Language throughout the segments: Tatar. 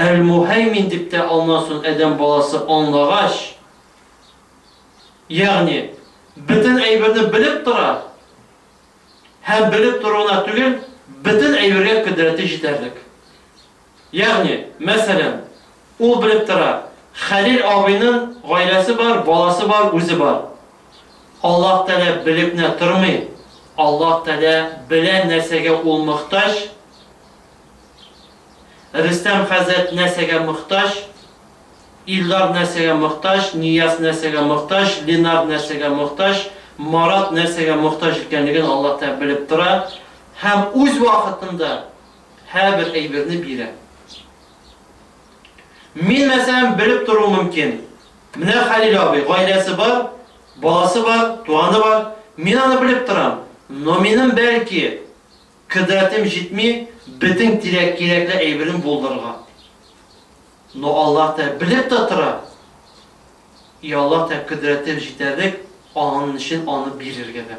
Әл-Муһәймин дип тә алмасын адәм баласы аңлагач, ягъни бөтен әйберне белеп тора һәм белеп тору гына түгел, бөтен әйбергә кодрәте җитәрлек. Ягъни, мәсәлән, ул белеп тора, Хәлил абыйнын гаиләсе бар, баласы бар, үзе бар. Аллаһ Тәгалә белеп нә тормый, Аллаһ Тәгалә белә нәрсәгә ул мохтаҗ, Рөстәм хәзрәт нәрсәгә мохтаҗ, Илдар нәрсәгә мохтаҗ, Нияз нәрсәгә мохтаҗ, Ленар нәрсәгә мохтаҗ, Марат нәрсәгә мохтаҗ икәнлеген Аллаһ Тәгалә белеп тора һәм үз вакытында, Һәр бер әйберне бирә. Мин, мәсәлән, белеп тору мөмкин. Менә Хәлил абый, гаиләсе бар, баласы бар, туганы бар. Мин аны белеп торам. Но минем, бәлки, кодрәтем җитми бөтен кирәк-кирәкле әйберен булдырырга. Но Аллаһ Тәгалә белеп тә тора. И Аллаһ Тәгалә кодрәтем җитәрлек, аның өчен аны бирергә дә.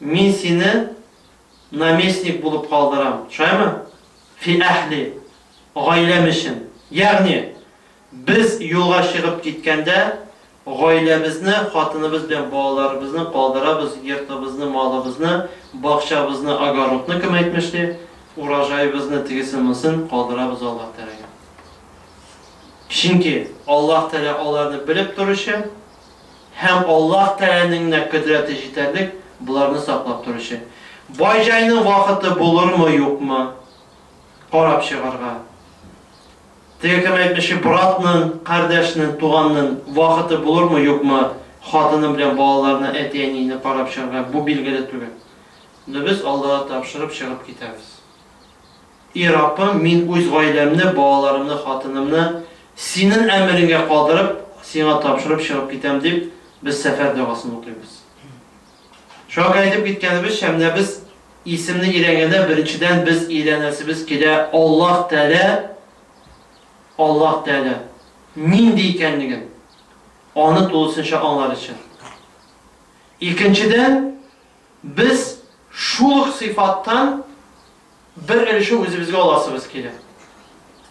Мин сине наместник булып калдырам, шулаймы? Фи әһли, гаиләм өчен. Ягъни, без юлга чыгып киткәндә, гаиләбезне, хатыныбыз белән балаларыбызны калдырабыз, йортыбызны, малыбызны, бакчабызны, огородны, кем әйтмешли, урожаебызны, тегесен-монысын калдырабыз Аллаһ Тәгаләгә. Чөнки Аллаһ Тәгалә аларны белеп торучы. Һәм Аллаһ Тәгаләнең генә кодрәте җитәрлек боларны саклап торучы. Бай-җайның вакыты булырмы-юкмы, карап чыгарга. Теге кем әйтмеши, братның, кардәшнең, туганның вакыты булырмы-юкмы, хатыны белән балаларны, әти-әнине карап чыгарга, бу билгеле түгел. Но без Аллага тапшырып чыгып китәбез. И Раббым, мин үз гаиләмне, балаларымны, хатынымны Синен әмеренгә калдырып, Сиңа тапшырып чыгып китәм, дип, без сәфәр догасын укыйбыз. Шуңа күрә әйтеп киткәнебезчә, менә без исемне өйрәнгәндә, беренчедән без өйрәнәсебез килә Аллаһ Тәгалә, Аллаһ Тәгалә нинди икәнлеген, Аны тулысынча аңлар өчен. Икенчедән, без шул ук сыйфаттан, бер өлеше үзебезгә аласыбыз килә.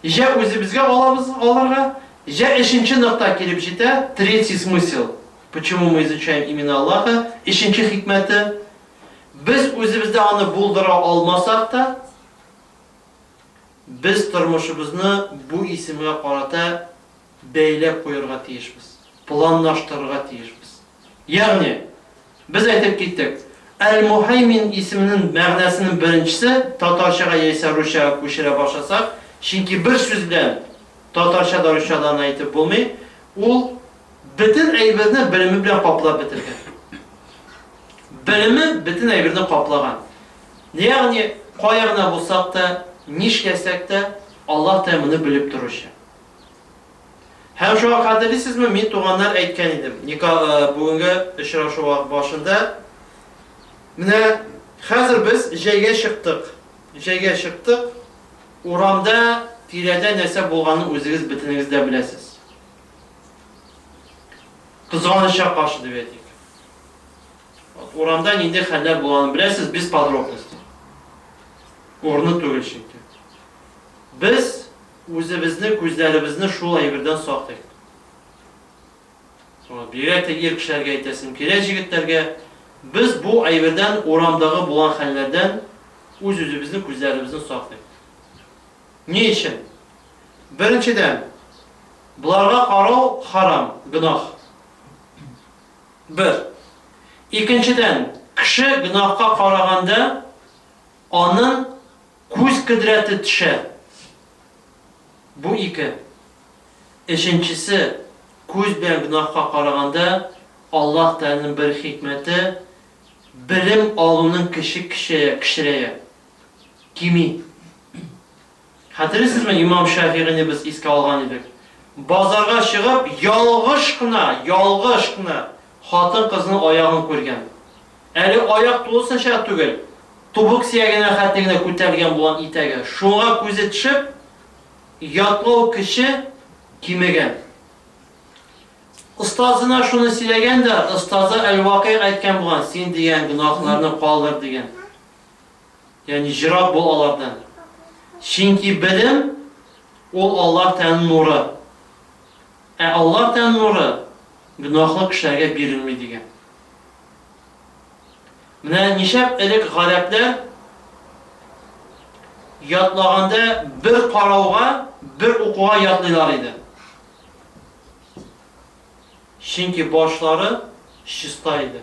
Җә үзебезгә алабыз алырга, җә өченче нокта килеп җитә, третий смысел, почему мы изучаем имена Аллаха, өченче хикмәте, без үзебездә аны булдыра алмасак та, без тормышыбызны бу исемгә карата бәйләп куярга тиешбез, планлаштырырга тиешбез. Ягъни, без әйтеп киттек, Әл-Мухәймин исеменең мәгънәсенең беренчесе татарчага яисә русчага күчерә башласак, чөнки бер сүз белән татарча да русча да аны әйтеп булмый, ул бөтен әйберне белеме белән каплап бетергән. Белеме бөтен әйберне каплаган. Ягъни, кая гына булсак та, нишләсәк тә, Аллаһ Тәгалә моны белеп торучы. Һәм шуңа хәтерлисезме, мин туганнар әйткән идем, ника бүгенге очрашу башында, Менә хәзер без җәйгә чыктык, җәйгә чыктык, урамда, тирәдә нәрсә булганын үзегез бөтенегез дә беләсез. Кызганычка каршы дип әйтик. Урамда нинди хәлләр булганын беләсез, без подробности. Урыны түгел чөнки. Без Үзебезне, күзләребезне шул әйбердән саклыйк. Соңрак бигрәк тә ир кешеләргә әйтәсем килә, җегетләргә, без бу әйбердән, урамдагы булган хәлләрдән үз-үзебезне, күзләребезне саклыйк. Ни өчен? Беренчедән, боларга карау харам, гөнаһ. Бер. Икенчедән, кеше гөнаһка караганда, Аның күз кодрәте төшә. Бу ике. Өченчесе, күз белән гөнаһка караганда, Аллаһ Тәгаләнең бер хикмәте, белем алуның көче кечәя, кечерәя, кими. Хәтерлисезме, имам Шәфигыйне без искә алган идек. Базарга чыгып, ялгыш кына, ялгыш кына хатын-кызның аягын күргән. Әле аяк тулысынча түгел, тубык сөягенә хәтле генә күтәрелгән булган итәге. Шуңа күзе төшеп, ятлау көче кимегән. Остазына шуны сөйләгән дә, остазы әл-Вакыйгъ әйткән булган, син дигән гөнаһларны калдыр, дигән. ягъни ерак бул алардан, чөнки белем, ул Аллаһ Тәгаләнең нуры, ә Аллаһ Тәгаләнең нуры гөнаһлы кешеләргә бирелми, дигән. Менә ничәп элек гарәпләр ятлаганда бер карауга, бер укуга ятлыйлар иде. Чөнки башлары чиста иде.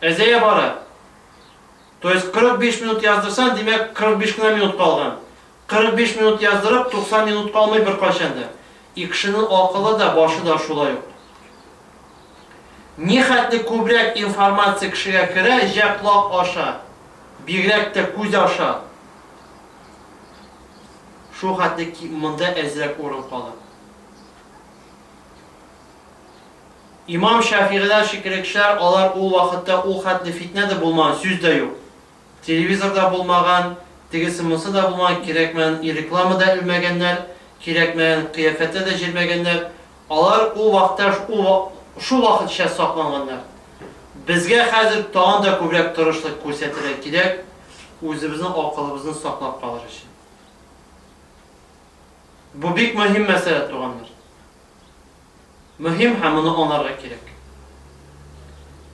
Әзәя бара. То есть 45 минут яздырсаң, димәк 45 кенә минут калган. 45 минут яздырып, 90 минут калмый беркайчан да. И кешенең акылы да, башы да шулай ук. Нихәтле күбрәк информация кешегә керә, җә колак аша, бигрәк тә күз аша, шул хәтле монда әзрәк урын кала. Имам Шәфигыйләр шикеллекчеләр алар ул вакытта ул хәтле фитнә дә булмаган, сүз дә юк. Телевизор да булмаган, тегесе-монсы да булмаган, кирәкмәгән реклама да элмәгәннәр, кирәкмәгән кыяфәттә дә җөрмәгәннәр. Алар ул вакытта ул шул вакытча сакланганнар. Безгә хәзер тагын да күбрәк тырышлык күрсәтергә кирәк, үзебезнең акылыбызны саклап калыр өчен. Бу бик мөһим мәсьәлә, туганнар. мөһим һәм моны анарга кирәк.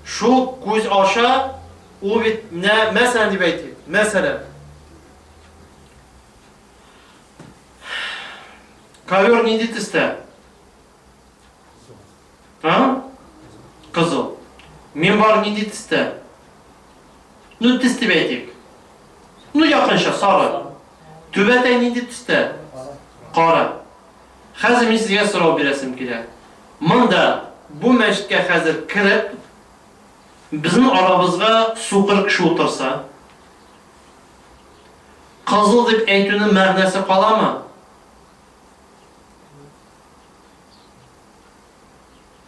Шул күз аша ул бит менә мәсәлән дип әйтик, мәсәлән. Ковер нинди төстә? А? Кызыл. Минбар нинди төстә? Ну төс дип әйтик. Ну якынча сары. Түбәтәй нинди төстә? Кара. Хәзер мин сезгә сорау бирәсем килә. Монда, бу мәчеткә хәзер кереп, безнең арабызга сукыр кеше утырса, кызыл дип әйтүнең мәгънәсе каламы?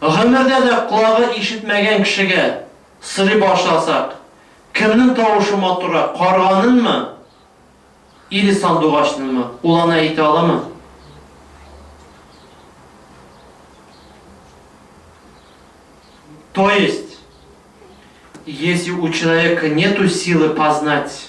Гомердә дә колагы ишетмәгән кешегә сорый башласак, кемнең тавышы матуррак, карганынмы, или сандугачнынмы, ул аны әйтә аламы? То есть, если у человека нету силы познать,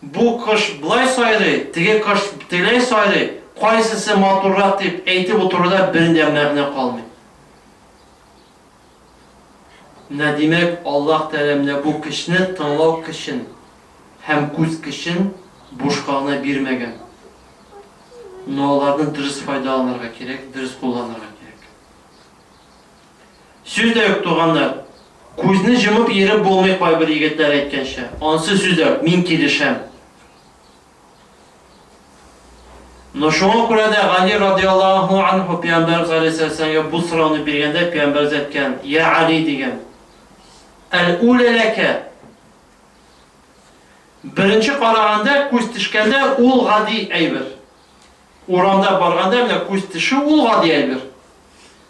Бу кош болай сайрый, теге кош тегеләй сайрый, кайсысы матуррак дип әйтеп утыруда бер дә мәгънә калмый. Менә димәк, Аллаһ Тәгалә менә бу көчне, тыңлау көчен һәм күз көчен бушка гына бирмәгән. Менә аларны дөрес файдаланырга кирәк, дөрес кулланырга кирәк. Сүз дә юк, туганнар. Күзне җомып йөреп булмый кайбер егетләр әйткәнчә. Ансы сүз дә юк, мин килешәм. Ну шуңа күрә дә Гали радиаллаһу анһу Пәйгамбәрбез галәйһиссәләмгә бу сорауны биргәндә Пәйгамбәрбез әйткән, Йә Гали дигән, Әл-үлә ләкә. Беренче караганда, күз тешкәндә ул гади әйбер. Урамда барганда менә күз тешү ул гади әйбер.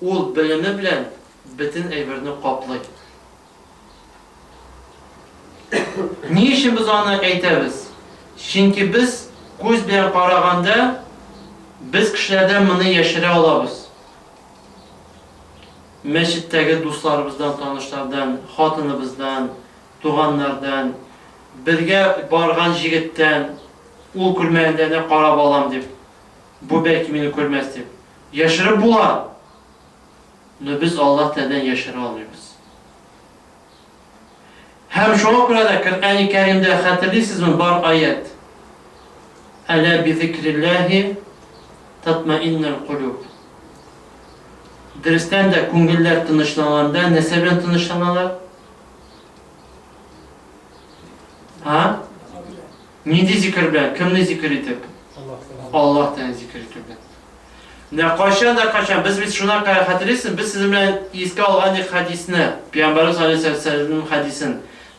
Ул белеме белән бөтен әйберне каплый. Ни өчен без аны әйтәбез? Чөнки без күз белән караганда, без кешеләрдән моны яшерә алабыз. Мәчеттәге дусларыбыздан, танышлардан, хатыныбыздан, туганнардан, бергә барган җегеттән, ул күрмәгәндә генә карап алам дип. Бу бәлки мине күрмәс дип. Яшереп була! Но без Аллаһ Тәгаләдән яшерә алмыйбыз. Һәм шуңа күрә дә Коръәни Кәримдә, хәтерлисезме, бар аять, Әлә бизикрилләһи татмаиннул кулүб. Дөрестән дә, күңелләр тынычланганда нәрсә белән тынычланалар? Һа? Нинди зикер белән? Кемне зикер итеп? Аллаһ Тәгаләне зикер итү белән. Менә кайчан да кайчан без бит шуна күрә хәтерлисез, без сезнең белән искә алган идек хәдисне, Пәйгамбәрбез алейһи вәсәлләмнең хәдисен.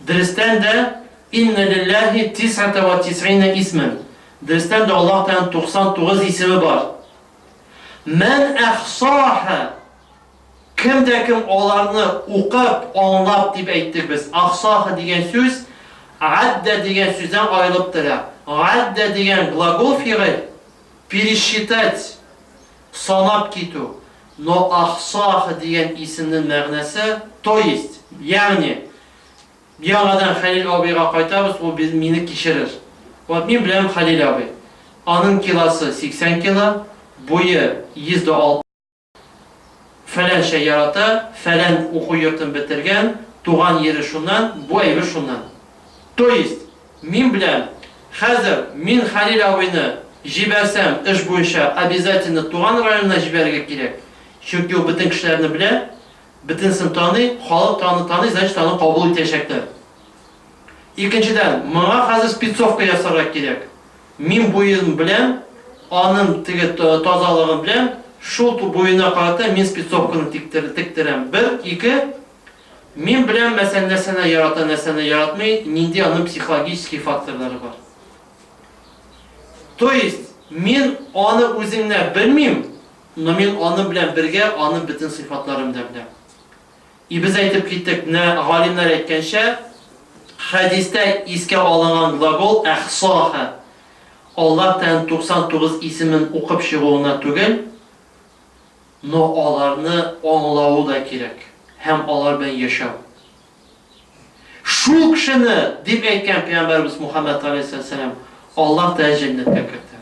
Дөрестән дә инна лиллаһи тисата ва тисина исмен. Дөрестән дә Аллаһ Тәгаләнең 99 исеме бар. Мән әхсаха Кем дә кем аларны укып, аңлап дип әйтте без. Ахсаһы дигән сүз аддә дигән сүздән аерылып тора. Аддә дигән глагол фигыль, пересчитать, санап китү. Но ахсаһы дигән исемнең мәгънәсе, то есть, ягъни, яңадан Хәлил абыйга кайтабыз, ул мине кичерер. Вот мин беләм Хәлил абый. Аның килосы 80 кило, буе 106. Фәләнчә ярата, фәлән уку йортын бетергән, туган йире шуннан, бу әйбер шуннан. То есть, мин беләм, хәзер мин Хәлил абыйны җибәрсәм, эш буенча обязательно туган районына җибәрергә кирәк, чөнки ул бөтен кешеләрне белә, бөтенесен таный, халык та аны таный, значит, аны кабул итәчәкләр. Икенчедән, моңа хәзер спецовка ясарга кирәк. Мин буен белән, анын теге тазалыгы белән, шул буена карата мин спецовканы тектерәм. Бер, ике, мин беләм мәсәлән нәрсәне ярата, нәрсәне яратмый, нинди анын психологический факторлары бар. То есть, мин аны үзеңнәп белмим, но мин анын белән бергә анын бөтен сыйфатларын да беләм. И без әйтеп киттек, менә галимнәр әйткәнчә, хәдистә искә алынган глагол әхсаһа, Аллаһ тән 99 исемен укып чыгу гына түгел, но аларны аңлавы да кирәк һәм алар белән яшәү. Шул кешене, дип әйткән пәйгамбәребез Мухаммәд галәйһиссәләм, Аллаһ тәен җәннәткә кертә.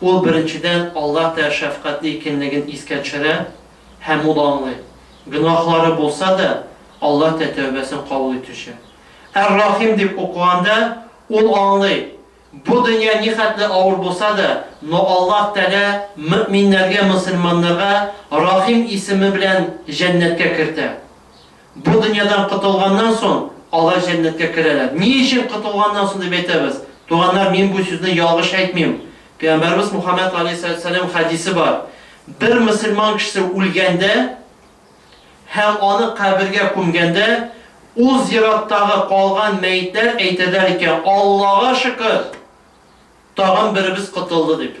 Ул, беренчедән, Аллаһ Тәа шәфкатьле икәнлеген искә төшерә һәм ул аңлый, гөнаһлары булса да, Аллаһ Тәа тәүбәсен кабул итүче. Әр-Рахим дип укыганда, ул аңлый, бу дөнья нихәтле авыр булса да, но Аллаһ Тәалә мөэминнәргә, мөселманнарга Рахим исеме белән җәннәткә кертә. Бу дөньядан котылганнан соң, алар җәннәткә керәләр. Ни өчен котылганнан соң дип әйтәбез? Туганнар, мин бу сүзне ялгыш әйтмим. Пәйгамбәребез Мухаммәд галәйһиссәлам хәдисе бар. Бер мөселман кешесе үлгәндә һәм аны кабергә күмгәндә, ул зираттагы калган мәетләр әйтәләр икән, Аллага шөкер, тагын беребез котылды, дип.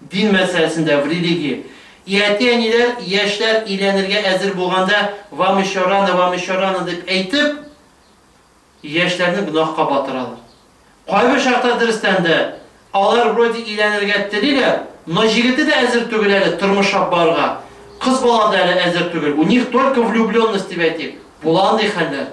Дин мәсьәләсендә, в религии. И әти-әниләр, яшьләр өйләнергә әзер булганда, Вам еще рано, вам еще рано, дип әйтеп, яшьләрне гөнаһка батыралар. Кайбер чакта, дөрестән дә, алар вроде өйләнергә телиләр, но җегете дә әзер түгел әле тормышлап барырга, кыз бала да әле әзер түгел, у них только влюбленность дип әйтик, була андый хәлләр.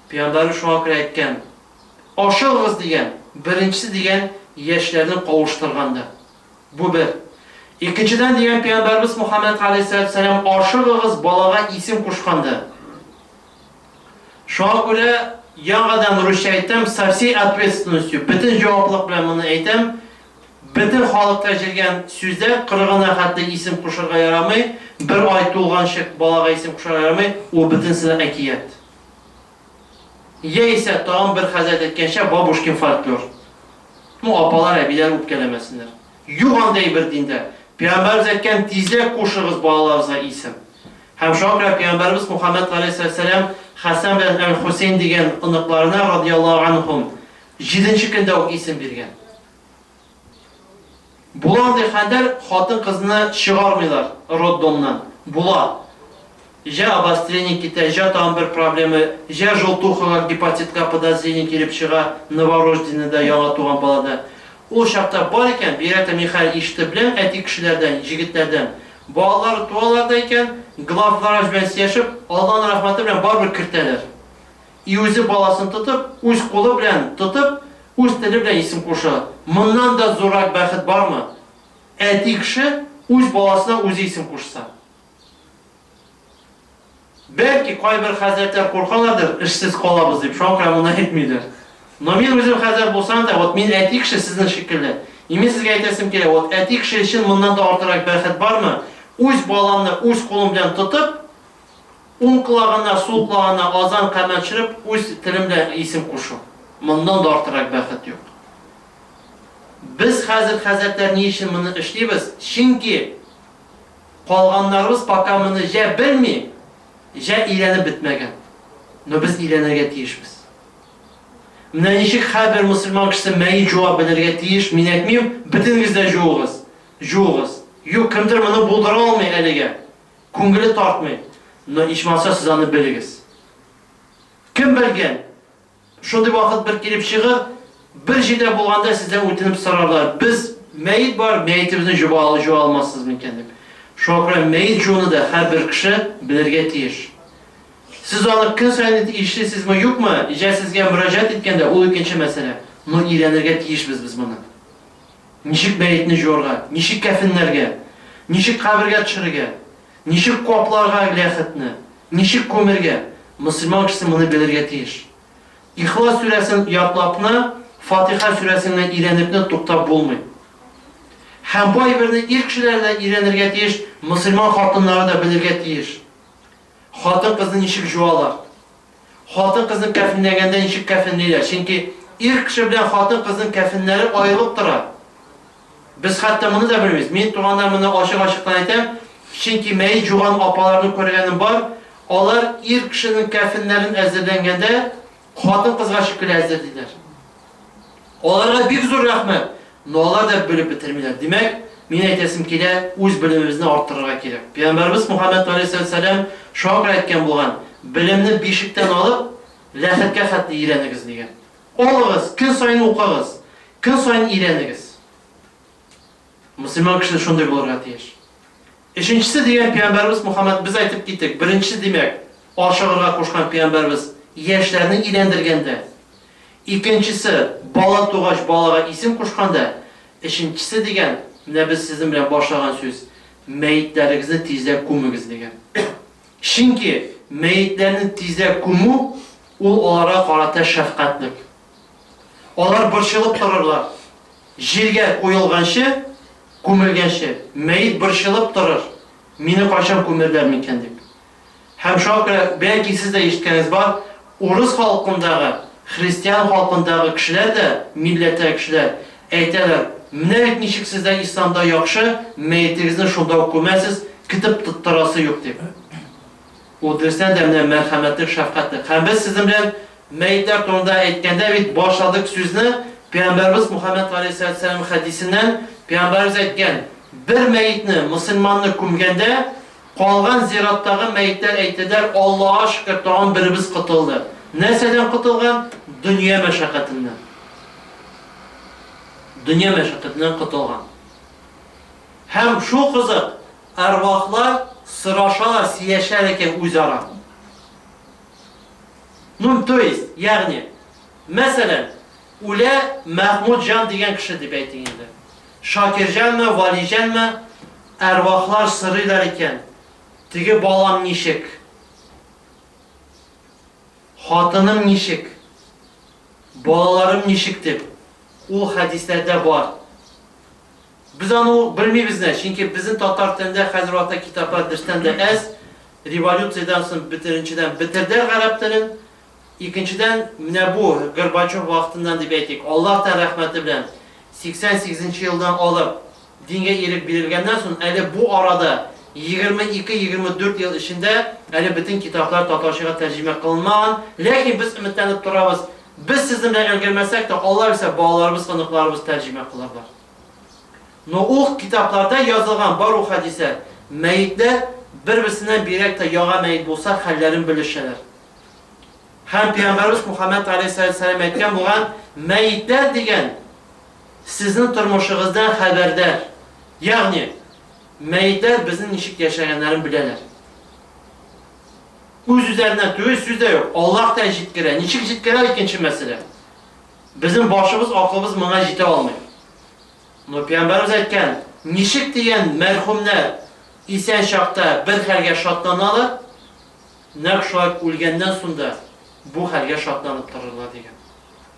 Пәйгамбәребез шуңа күрә әйткән, Ашыгыгыз дигән, беренчесе дигән яшьләрне кавыштыргандыр. Бу бер. Икенчедән дигән Пәйгамбәребез Мөхәммәд галәйһиссәләтү сәлам ашыгыгыз балага исем кушкандыр. Шуңа күрә яңадан русча әйтәм, со всей ответственностью, бөтен җаваплылык белән моны әйтәм, бөтен халыкта җиргән сүзләр кырыгына хәтле исем кушырга ярамый, бер ай тулганчык балага исем кушырга ярамый, ул бөтенесе дә әкият. Яисә, тагын бер хәзрәт әйткәнчә, бабушкин фольклор. Ну, апалар, әбиләр үпкәләмәсеннәр. Юк андый әйбер диндә. Пәйгамбәребез әйткән, Тизрәк кушыгыз балаларыгызга исем. Һәм шуңа күрә пәйгамбәребез Мухаммәд галәйһиссәлам Хәсән белән әл-Хусәйн дигән оныкларына, радияллаһу анһум, җиденче көндә үк исем биргән. Була андый хәлләр, хатын-кызны чыгармыйлар роддомнан. Була. Җә обострение китә, җә тагын бер проблема, җә желтухага, гепатитка подозрение килеп чыга новорожденныйда, яңа туган балада. Ул чакта бар икән, бигрәк тә мин хәзер ишетеп беләм әти кешеләрдән, җегетләрдән, балалары туалар да икән, главврач белән сөйләшеп, Алланың рәхмәте белән барыбер кертәләр. И үзе баласын тотып, үз кулы белән тотып, үз теле белән исем куша. Моннан да зуррак бәхет бармы? Әти кеше үз баласына үзе исем кушса. Бәлки, кайбер хәзрәтләр куркалардыр, эшсез калабыз дип, шуңа күрә моны әйтмидер. Но мин үзем хәзрәт булсам да, вот мин әти кеше сезнең шикелле. И мин сезгә әйтәсем килә, вот әти кеше өчен моннан да артырак бәхет бармы? Үз баламны үз кулым белән тотып, Уң колагына, сул колагына азан камәт чырып, үз телең белән исем кушу. Моннан да артыграк бәхет юк. Без хәзер, хәзрәтләр, ни өчен моны эшлибез? Чөнки калганнарыбыз пока моны җә белми, җә өйрәнеп бетмәгән. Но без өйрәнергә тиешбез. Менә ничек һәрбер мөселман кешесе мәет җуа белергә тиеш, мин әйтмим, бөтенегез дә җуыгыз, җуыгыз. Юк, кемдер моны булдыра алмый әлегә. Күңеле тартмый, но ичмаса сез аны белегез. Кем белгән, шундый вакыт бер килеп чыгыр, бер җирдә булганда сездән үтенеп сорарлар, без мәет бар, мәетебезне җуа алмассыз микән дип. Шуңа күрә мәет жууны да һәрбер кеше белергә тиеш. Сез аны көн саен ишлисезме, юкмы, җә сезгә мөрәҗәгать иткәндә, ул икенче мәсьәлә, но өйрәнергә тиешбез без моны. Ничек мәетне җуарга, ничек кәфенләргә, ничек кабергә төшерергә, ничек капларга ләхетне, ничек күмергә, мөселман кешесе моны белергә тиеш. Ихлас сүрәсен ятлапны, Фатиха сүрәсен генә өйрәнепне туктап булмый. Һәм бу әйберне ир кешеләре дә өйрәнергә тиеш, мөселман хатыннары да белергә тиеш. хатын-кызны ничек җуалар? Хатын-кызны кәфенләгәндә ничек кәфенлиләр? Чөнки ир кеше белән хатын-кызның кәфеннәре аерылып тора. Без хәтта моны да белмибез. Мин туганнар моны ачык-ачыктан әйтәм, чөнки мәет җуган апаларны күргәнем бар, алар ир кешенең кәфеннәрен әзерләнгәндә, Хатын-кызга шөкер әзер, диләр. Аларга бик зур рәхмәт, но алар да белеп бетермиләр. Димәк, мин әйтәсем килә, үз белемебезне арттырырга кирәк. Пәйгамбәрбез Мухаммәд галәйһиссәләм шакыр әйткән булган, Белемне бишектән алып, ләхеткә хәтле өйрәнегез, дигән. Алыгыз, көн саен укыгыз, көн саен өйрәнегез. Мөселман кеше шундый булырга тиеш. Өченчесе дигән пиамбәрбез Мухаммәд без әйтеп киттек, беренче димәк, ашыгырга кушкан пиамбәрбез яшьләрне өйләндергәндә, икенчесе бала тугач балага исем кушканда, өченчесе дигән, менә без сезнең белән башлаган сүз, мәетләрегезне тизрәк күмегез дигән. Чөнки мәетләрне тизрәк күмү ул аларга карата шәфкатьлек. Алар борчылып торырлар. Җиргә куелганчы, күмелгәнче, мәет борчылып торыр, Мине кайчан күмерләр микән дип. Һәм шуңа күрә, бәлки сез дә ишеткәнегез бар, урыс халкындагы, христиан халкындагы кешеләр дә, милләттәге кешеләр, әйтәләр, Менә бит ничек сездә исламда яхшы, мәетегезне шунда ук күмәсез, кетеп тоттырасы юк дип. Ул теләсә дә менә мәрхәмәтлек, шәфкатьлек. Һәм без сезнең белән мәетләр турында әйткәндә бит башладык сүзне, пәйгамбәребез Мухаммәд галәйһиссәләтү-вәссәлам хәдисеннән, пәйгамбәребез әйткән, Бер мәетне, мөселманны күмгәндә, калган зираттагы мәетләр әйтерләр, Аллага шөкер, тагын беребез котылды. Нәрсәдән котылган? Дөнья мәшәкатеннән. Дөнья мәшәкатеннән котылган. Һәм шул кызык, Әрвахлар сорашалар, сөяшәләр икән үзара. Ну, то есть, ягъни, мәсәлән, үлә Мәхмүтҗан дигән кеше дип әйтик инде. Шакирҗанмы, Валиҗанмы, әрвахлар сырыйлар икән. Теге балам ничек? Хатыным ничек? Балаларым ничек дип. Ул хәдисләрдә бар. Без аны ук белмибез нә, чөнки безнең татар телендә хәзер ата китаплар берстән дә әз, революциядән соң бетеренчедән бетердәр гарәп телен, икенчедән менә бу Горбачев вакытыннан дип әйтик, Аллаһ тән рәхмәте белән 88 нче елдан алып дингә ирек бирелгәннән соң әле бу арада 22-24 ел эчендә әле бөтен китаплар татарчага тәрҗемә кылынмаган, ләкин без өметләнеп торабыз, без сезнең белән өлгермәсәк тә, Аллаһ бирсә балаларыбыз, оныкларыбыз тәрҗемә кылырлар. Но ул китапларда язылган бар ул хәдисә, мәетләр бер-берсеннән бигрәк тә яга мәет булса, хәлләрен белешәләр. Һәм пәйгамбәрбез Мухаммәд галәйһиссәләм әйткән булган, мәетләр дигән сезнең тормышыгыздан хәбәрдар. Ягъни, мәетләр безнең ничек яшәгәннәрен беләләр. Үз-үзләреннән түгел, сүз дә юк, Аллаһ та җиткерә. Ничек җиткерә, икенче мәсьәлә. Безнең башыбыз, акылыбыз моңа җитә алмый. Но Пәйгамбәребез әйткән, ничек дигән мәрхүмнәр исән чакта бер хәлгә шатланалар, нәкъ шулай үлгәннән соң да бу хәлгә шатланып торырлар дигән.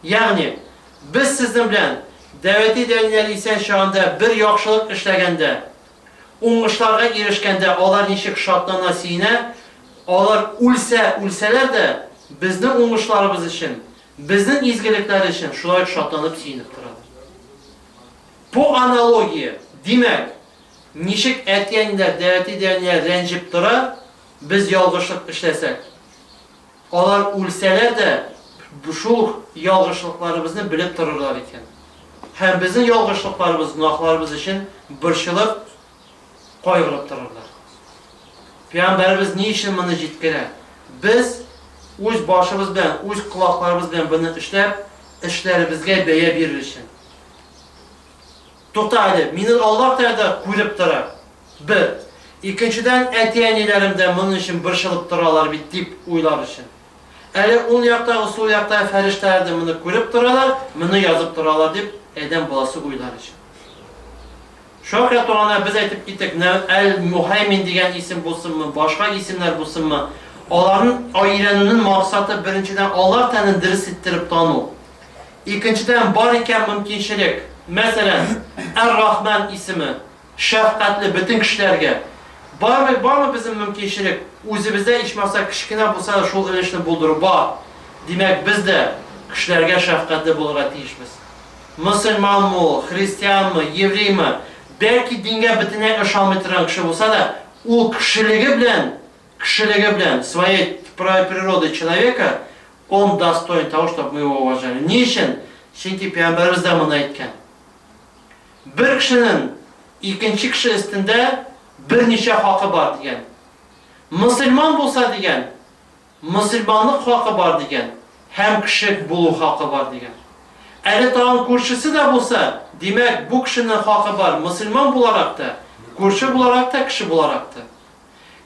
Ягъни, без сезнең белән дәвәти дәниләр исән чагында бер яхшылык эшләгәндә, уңышларга ирешкәндә алар ничек шатлана, сөенә, алар үлсә үлсәләр дә, безнең уңышларыбыз өчен, Безнең изгелекләр өчен шулай ук шатланып, сөенеп торалар. Бу аналогия, димәк, ничек әти-әниләр, дәәти-дәәниләр рәнҗеп тора, без ялгышлык эшләсәк, алар үлсәләр дә шул ялгышлыкларыбызны белеп торырлар икән һәм безнең ялгышлыкларыбыз, гөнаһларыбыз өчен борчылып, кайгырып торырлар. Пәйгамбәребез ни өчен моны җиткерә? Без үз башыбыз белән, үз колакларыбыз белән буны эшләп, эшләребезгә бәя бирер өчен. Тукта әле, мине Аллаһ Тәгалә күреп тора. Бер. Икенчедән, әти-әниләрем дә моның өчен борчылып торалар бит дип уйлар өчен. Әле ул яктагы, сул яктагы фәрештәләр дә моны күреп торалар, моны язып торалар дип, адәм баласы уйлар өчен. Шөһрә турында без әйтеп киттек, Нәү әл Мухәймин дигән исем булсынмы, башка исемнәр булсынмы, аларны өйрәнүнен максаты беренчедән Аллаһ тәнен дерес иттереп тану, икенчедән бар икән мөмкинчелек, мәсәлән, Әр-Рахман исеме, шәфкатьле, бөтен кешеләргә, бармы, бармы безнең мөмкинчелек, үзебездә ичмаса кечкенә булса да шул өлешне булдыру бар, димәк без дә кешеләргә шәфкатьле булырга тиешбез. Мөселманмы ул, христианмы, евреймы, бәлки дингә бөтенләй ышанмый торган кеше булса да, ул кешелеге белән, кешелеге белән, своей правой природой человека, он достоин того, чтоб мы его уважали. Ни өчен? Чөнки Пәйгамбәребез дә моны әйткән. Бер кешенең икенче кеше өстендә берничә хакы бар, дигән. Мөселман булса, дигән, Мөселманлык хакы бар дигән һәм кеше булу хакы бар дигән. Әле тагын күршесе дә булса, димәк, бу кешенең хакы бар мөселман буларак та, күрше буларак та, кеше буларак та.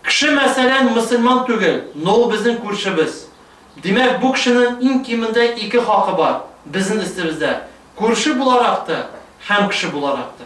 Кеше, мәсәлән, мөселман түгел, но ул безнең күршебез. Димәк, бу кешенең иң кимендә ике хакы бар безнең өстебездә, күрше буларак та һәм кеше буларак та.